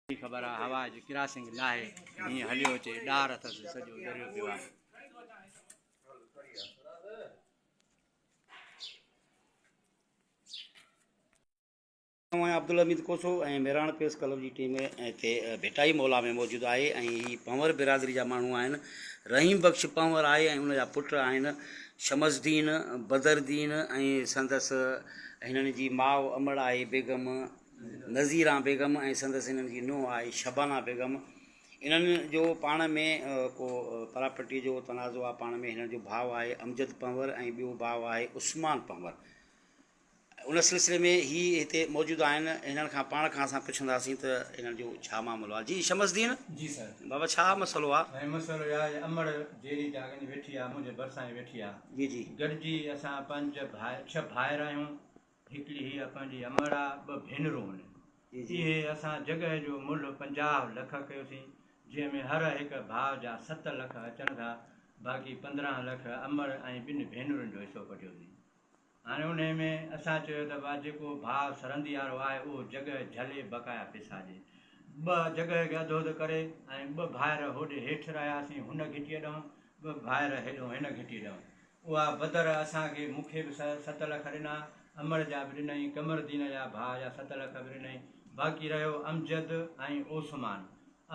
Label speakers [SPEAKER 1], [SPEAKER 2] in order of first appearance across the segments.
[SPEAKER 1] خبر آ هوا جي ڪراسنگ ناهي هيئن هليو اچي ڏار اٿس سڄو دريو پيو آ آئون عبدالله اميد کوسو ۽ ميراڻ پريس ڪلب جي ٽيم هتي ڀٽائي مولا ۾ موجود آهي ۽ هي پنور برادري جا ماڻهو آهن رحيم بخش پنور آهي ۽ ان جا پٽ آهن شمس الدين بدر الدين ۽ سندس هنن جي ماء امڙ آهي بيگم نظيران بيگم ۽ سندس هنن جي نونهن آهي شبانه بيگم انهن جو پاڻ ۾ ڪو پراپرٽي جو تنازعو آهي پاڻ ۾ هنن جو ڀاء آهي امجد پنهور ۽ ٻيو ڀاء آهي عثمان پنهور ان سلسلي ۾ هي هتي موجود آهن هنن کان پاڻ کان اسان پڇنداسين ته هنن جو ڇا معاملو آهي جي شمس الدين جي سر بابا
[SPEAKER 2] ڇا مسئلو آهي ۽ مسئلو اهي
[SPEAKER 1] آهي امڙ
[SPEAKER 2] جيري جا اڳ ويٺي آهي منهنجي ڀرسان هي ويٺي آهي جي جي گڏجي
[SPEAKER 1] اسان
[SPEAKER 2] پنج ڀاء ڇهه ڀائر آهيون هڪڙي هي اسان جي امڙ آ، ٻه ڀينرون هن. اهي اسان جڳهه جو ملهه پنجاهه لک ڪيوسين، جنهن ۾ هر هڪ ڀاء جا ست لک اچن ٿا، باقي پندرهن لک امڙ ۽ ٻن ڀينرن جو حصو ڪڍيوسين. هاڻي انهيء ۾ اسان چيو ته ڀاء جيڪو ڀاء سرنديارو آهي اهو جڳهه جهلي بقايا پئسا ڏي. ٻه جڳهه کي اڌو اڌ ڪري ۽ ٻه ڀائر هوڏي هيٺ رهياسين هن گهٽيء ڏانهن، ٻه ڀائر هيڏهون هن گهٽيء ڏانهن. اها بدر اسان کي، مون کي به ست لک ڏنا، امڙ جا به ڏنئي، قمردين جا ڀاء جا ست لک به ڏنئي، باقي رهيو امجد ۽ اوسمان.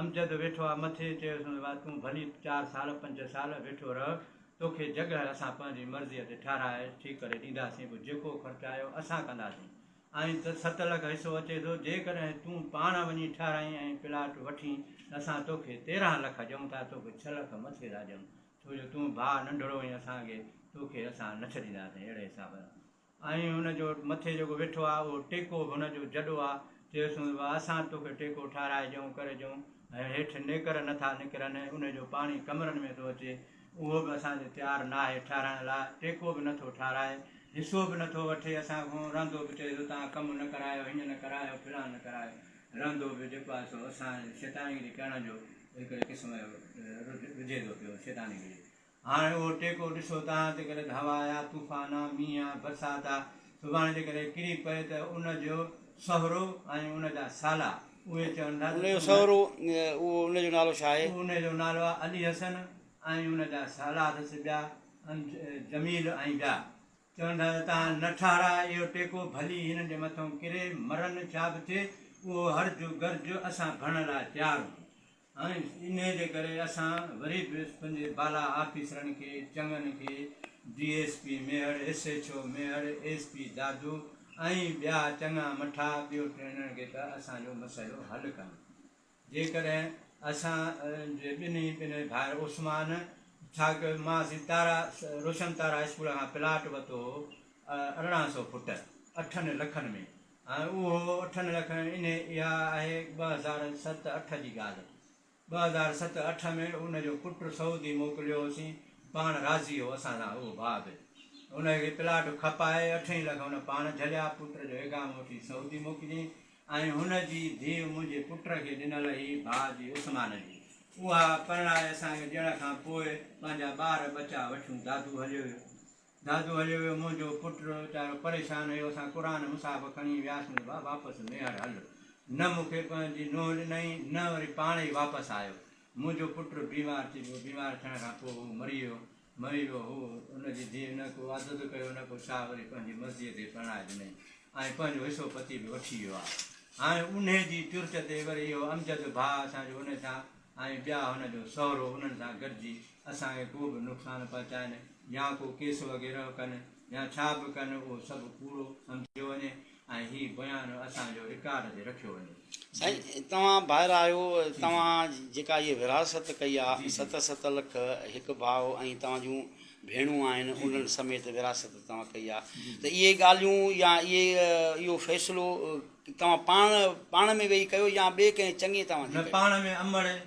[SPEAKER 2] امجد ويٺو آ مٿي، چيوسنس وا تون ڀلي چار سال پنج سال ويٺو رهه، توکي جڳهه اسان پنهنجي مرضيء تي ٺهرائي ٺيڪ ڪري ڏينداسين، پوء جيڪو خرچ آيو اسان ڪنداسين، ائين ته ست لک حصو اچي ٿو، جيڪڏهن تون پاڻ وڃي ٺهرائين ۽ پلاٽ وٺين ته اسان توکي تيرهن لک ڏيون ٿا، توکي ڇهه لک مٿي ٿا ڏيون، ڇو جو تون ڀاء ننڍڙو هئين اسان کي، توکي اسان نه ڇڏينداسين اهڙي حساب سان ۽ هن جو مٿي جيڪو ويٺو آهي اهو ٽيڪو به هن جو جڏو آهي، چيس هوند ڀاء اسان توکي ٽيڪو ٺهرائي ڏيئون ڪري ڏيئون ۽ هيٺ نيڪر نه ٿا نڪرن ۽ ان جو پاڻي ڪمرن ۾ ٿو اچي اهو به اسان جو تيار ناهي ٺهرائڻ لاء ٽيڪو به نه ٿو ٺهرائي حصو به نه ٿو وٺي اسان کان رهندو به چيس اتان ڪم نه ڪرايو هيئن نه ڪرايو فلان نه ڪرايو رهندو به جيڪو آهي سو اسان شيطانگيري ڪرڻ جو هڪڙي قسم جو رجي ٿو پيو، شيطاني رجي. هاڻ اهو ٽيڪو ڏسو ته آن تي ڪڏهن هوا آيا، طوفان آ، مينهن آ، برسات آ، سڀاڻي جي ڪڏهن ڪري پئي ته ان جو سهرو ۽ ان جا سالا اهي چون ٿا ته ان جو سهرو اهو
[SPEAKER 1] ان جو نالو ڇا آهي؟ اهو ان جو نالو آ علي
[SPEAKER 2] حسن ۽ ان جا سالا اٿس ٻيا جميل ۽ ٻيا. چون ٿا ته تان نه ٺارا اهو ٽيڪو، ڀلي هنن جي مٿئون ڪري مرن، ڇا به ٿئي، اهو هرج و گرج اسان ڀرڻ لاء تيار هون. ۽ انهيء جي ڪري اسان وري به پنهنجي بالا آفيسرن کي چڱن کي D S P Mehar, S H O Mehar, S P Dadu ۽ ٻيا چڱا مٺا ٻيو ٽيڻڻ کي ته اسان جو مسئلو حل ڪن. جيڪڏهن اسان جي ٻنهي پنهي ڀائر عثمان ڇاڪ مان سين تارا روشن تارا اسڪول کان پلاٽ ورتو هو ارڙهن سئو فٽ اٺن لکن ۾ ۽ اهو اٺن لکن انهي اها آهي ٻه هزار ست اٺ جي ڳالهه ٻه هزار ست اٺ ۾ ان جو پٽ سعودي موڪليو هوسين پاڻ راضي هو اسان سان اهو ڀاء به ان کي پلاٽ کپائي اٺ ئي لک ان پاڻ جهليا پٽ جو اقامو وٺي سعودي موڪليائين ۽ هن جي ڌيء منهنجي پٽ کي ڏنل هئي، ڀاء جي عثمان جي. اها پرڻائي اسان کي ڏيڻ کان پوء پنهنجا ٻار ٻچا وٺيون دادو هليو ويو. دادو هليو ويو، منهنجو پٽ ويچارو پريشان هيو، اسان قرآن مصاحف کڻي وياسون ته ڀاء واپس ميهڙ هل. نه مون کي پنهنجي نونهن ڏنائين، نه وري پاڻ ئي واپس آيو. منهنجو پٽ بيمار ٿي پيو، بيمار ٿيڻ کان پوء هو مري ويو. مئي و هو ان جي ڌيء نه ڪو واڌو ٿو ڪيو نه ڪو ڇا وري پنهنجي مرضيء تي پرڻائي ڏنئين ۽ پنهنجو حصو پتي به وٺي ويو آهي هاڻي انهي جي ترت تي وري اهو امجد ڀاء اسان جو انهي سان ۽ ٻيا هن جو سهرو انهن سان گڏجي اسان کي ڪو به نقصان پهچائين يا ڪو ڪيس وغيره ڪن يا ڇا به ڪن اهو سڀ ڪوڙو سمجهيو وڃي ۽ هي بيان اسان جو رڪارڊ تي رکيو وڃي. سائين توهان
[SPEAKER 1] ڀائر آهيو توهان جيڪا هيء ورهاست ڪئي آ ست ست لک هڪ ڀاء ۽ توهان جون ڀيڻون آهن انهن سميت ورهاست توهان ڪئي آ ته اهي ڳالهيون يا اهي اهو فيصلو توهان پاڻ پاڻ ۾ ويهي ڪيو يا ٻئي ڪنهن چڱي توهان جي نه پاڻ ۾ امڙ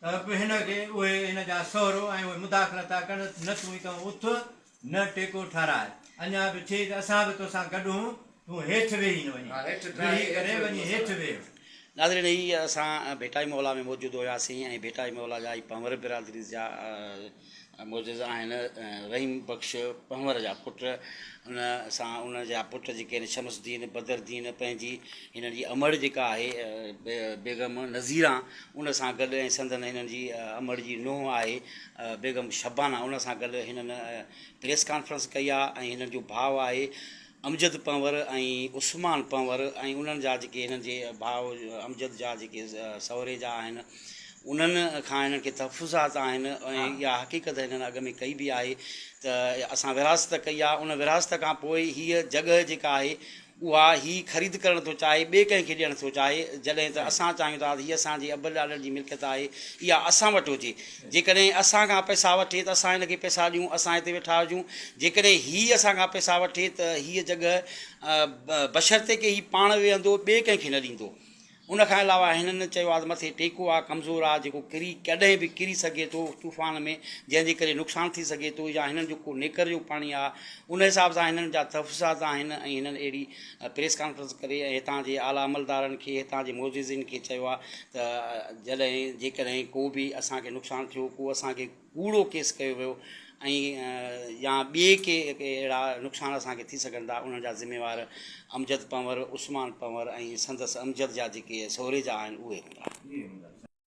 [SPEAKER 2] ته به هن کي اهي هن جا سهرو ۽ اهي مداخلت ٿا ڪن، نه تون ئي تون اٿ، نه ٽيڪو ٺهراء، اڃا به ٿئي ته اسان به توسان گڏ هون، تون هيٺ ويهي نه وڃين، ويهي ڪري وڃي هيٺ ويهه. ناظرين هي
[SPEAKER 1] اسان ڀيٽائي محلا ۾ موجود هياسين ۽ ڀيٽائي محلا جا هي پنهور برادري جا معجزا آهن. رحيم بخش پنهور جا پٽ ان سان ان جا پٽ جيڪي آهن شمس الدين، بدر الدين پنهنجي هنن جي امڙ جيڪا آهي بيگم نظيرا ان سان گڏ ۽ سندن هنن جي امڙ جي نونهن آهي بيگم شبانا ان سان گڏ هنن پريس ڪانفرنس ڪئي آهي ۽ هنن جو ڀاء آهي امجد پنهور ۽ عثمان پنهور ۽ انهن جا جيڪي هنن جي ڀاء امجد جا جيڪي سهري جا آهن انهن کان هنن کي تحفظات آهن ۽ اها حقيقت هنن اڳ ۾ ڪئي به آهي ته اسان ورهاست ڪئي آهي ان ورهاست کان پوء هيء جڳهه جيڪا آهي اها هي خريد ڪرڻ ٿو چاهي ٻئي ڪنهن کي ڏيڻ ٿو چاهي جڏهن ته اسان چاهيون ٿا ته هيء اسان جي ابن ڏاڏن جي ملڪيت آهي اها اسان وٽ هجي جيڪڏهن اسان کان پئسا وٺي ته اسان هن کي پئسا ڏيون، اسان هتي ويٺا هجون، جيڪڏهن هي اسان کان پئسا وٺي ته هيء جڳهه بشرطيڪه هي پاڻ ويهندو، ٻئي ڪنهن کي نه ڏيندو. ان کان علاوه هنن چيو آهي ته مٿي ٽيڪو آهي، ڪمزور آهي، جيڪو ڪري ڪڏهن به ڪري سگهي ٿو طوفان ۾ جنهن جي ڪري نقصان ٿي سگهي ٿو يا هنن جو ڪو نيڪر جو پاڻي آهي، ان حساب سان هنن جا تحفظات آهن ۽ هنن اهڙي پريس ڪانفرنس ڪري ۽ هتان جي اعليٰ عملدارن کي هتان جي معززين کي چيو آهي ته جڏهن جيڪڏهن ڪو به اسان کي نقصان ٿيو ڪو اسان کي ڪوڙو ڪيس ڪيو ويو ۽ يا ٻي ڪي اهڙا نقصان اسان کي ٿي سگهن ٿا انهن جا ذميوار امجد پنور عثمان پنور ۽ سندس امجد جا جيڪي سهري جا آهن اهي هوندا